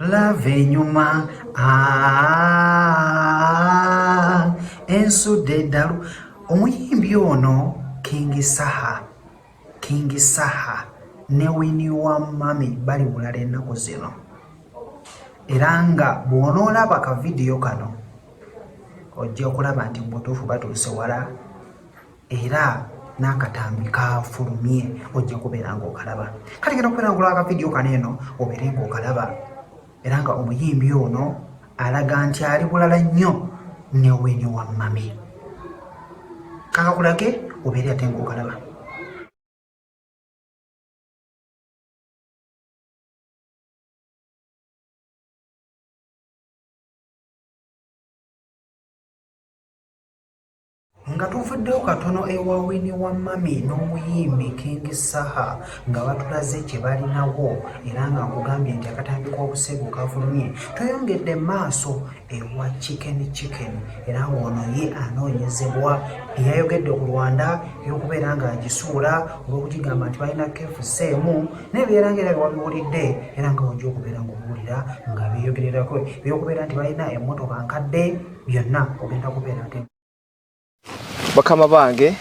lava enyuma ensudde eddalu omuyimbi ono kingi saha kingi saha ne wini wa mami bali bulala ennaku zino era nga bw'onoolaba ka vidiyo kano ojja okulaba nti mubutuufu batuuse wala era n'akatambi kafulumye ojja kubeera ng'okalaba kati genda okubeera ng'olaba akavidiyo kano eno obeere ng'okalaba era nga omuyimbi ono alaga nti ali bulala nnyo ne wini wa mami kakakulage obeere ate ng'okalaba nga tuvuddewo katono ewa wini wa mami n'omuyimbi king saha nga batulaze kye balinawo era nga nkugambye nti akatambi k'obuseegu kavulumye tweyongedde maaso ewa chicken chicken era ng'ono ye anoonyezebwa eyayogedde ku rwanda eyokubeera ng'agisuula olw'okugigamba nti balina kefuseemu naye byeranga era byewabiwulidde era nga wajja okubeera ng'obuwulira nga beeyogererako ebyokubeera nti balina emmotoka nkadde byonna ogenda kubeera nti bakama bange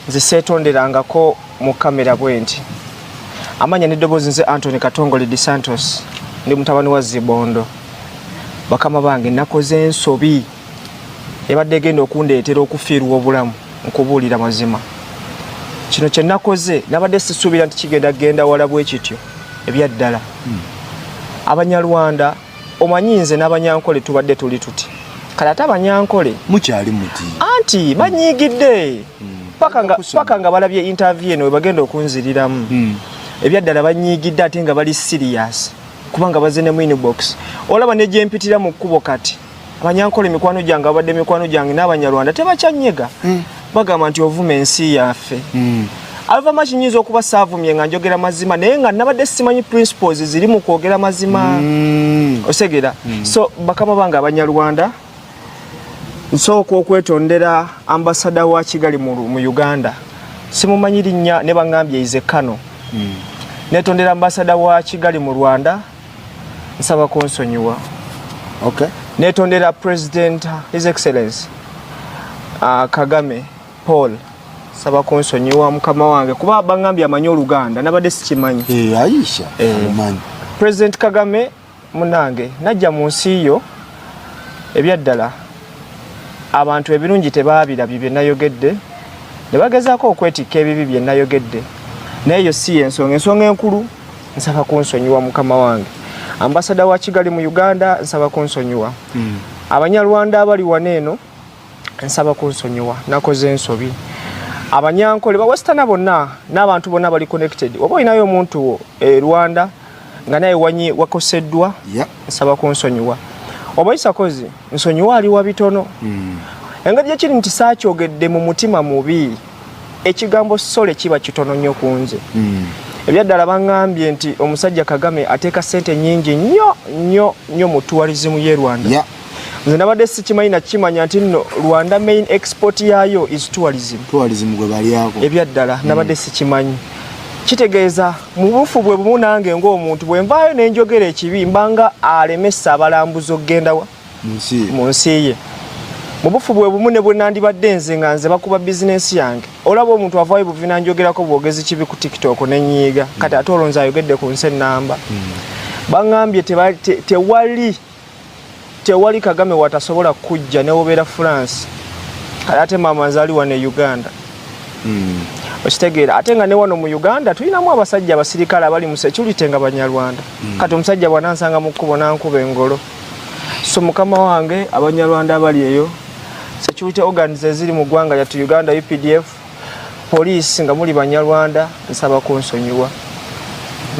nze seetonderangako mu kamera bwenti amanya n'eddoboozi nze antony katongole de santos ndi mutabani wa zibondo bakama bange nakoze ensobi ebadde egenda okundeetera okufiirwa obulamu nkubuulira mazima kino kye nakoze nabadde sisuubira nti kigenda genda wala bwe kityo ebyaddala hmm. abanyarwanda omanyi nze n'abanyankole tubadde tuli tuti kale ate abanyankole mukyali muti anti banyiigidde hmm. paka nga balabye intaviyu eno webagenda okunziriramu hmm. ebyaddala banyiigidde ate nga bali siriyasi kubanga baze ne mwini box olaba negyempitira mu kkubo kati abanyankole mikwano gyange abadde mikwano gyange n'abanyarwanda tebakyanyega hmm. bagamba nti ovuma ensi yaffe hmm. alvama kinyinza okuba saavumye nga njogera mazima naye nga nabadde simanyi principles ziri mu kwogera mazima hmm. osegera so bakama bange abanyarwanda nsooka okwetondera ambasada wa kigali mu uganda simumanyi linnya ne baŋambye ize kano netondera ambasada wa kigali mu rwanda nsaba kunsonyiwa okay. netondera president his excellence uh, kagame paul saba kunsonyiwa mukama wange kuba bangambye amanyi oluganda nabadde sikimanyi hey, eh, aisha hey. Eh. president kagame munange najja mu nsi yo ebyaddala abantu ebirungi tebaabirabye bye nayogedde ne bagezaako okwetikka ebibi bye nayogedde naye yo si yensonga ensonga enkulu nsaba kunsonyiwa mukama wange ambasada wa kigali mu uganda nsaba kunsonyiwa mm. abanyarwanda abali wano eno nsaba kunsonyiwa nakoze ensobi abanyankole bawesitana bonna n'abantu bonna bali connected oba olinayo omuntu wo e rwanda nga naye wanyi wakoseddwa yeah. nsaba kunsonyiwa obayisakozi nsonyiwa ali wa bitono mm. engeri gyekiri nti saakyogedde mu mutima mubi ekigambo sole kiba kitono nnyo ku nze mm. ebyaddala baŋambye nti omusajja kagame ateeka ssente nyingi nnyo nnyo nnyo mu tuwalizimu ye rwanda yeah. nze nabadde sikimanyi nakimanya nti nno rwanda main export yaayo is tourism ebyaddala mm. nabadde sikimanyi kitegeeza mu bufu bwe bumu nange ng'omuntu bwe nvaayo ne njogera ekibi mbanga alemesa abalambuzi okugenda wa mu nsi ye mu bufu bwe bumu ne bwe nandibadde nze nga nze bakuba bizinensi yange olaba omuntu avaayo buvi nanjogerako bwogezi kibi ku tiktok ne nyiiga kati ate olonzi ayogedde ku nsi ennamba hmm. baŋambye tewali tewali kagame watasobola kujja newobeera france kale ate maama nze ali wano e uganda hmm. okitegeera ate nga ne wano mu uganda tulinamu abasajja abasirikale abali mu security nga banyarwanda hmm. kati omusajja bwanansanga mu kkubo nankuba engolo so mukama wange abanyarwanda abali eyo security organs eziri mu ggwanga lyattu uganda updf poliisi nga muli banyarwanda nsaba kunsonyiwa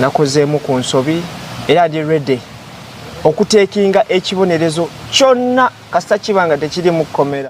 nakozeemu ku nsobi era ndi ready okuteekinga ekibonerezo kyonna kasita kiba nga tekiri mu kkomera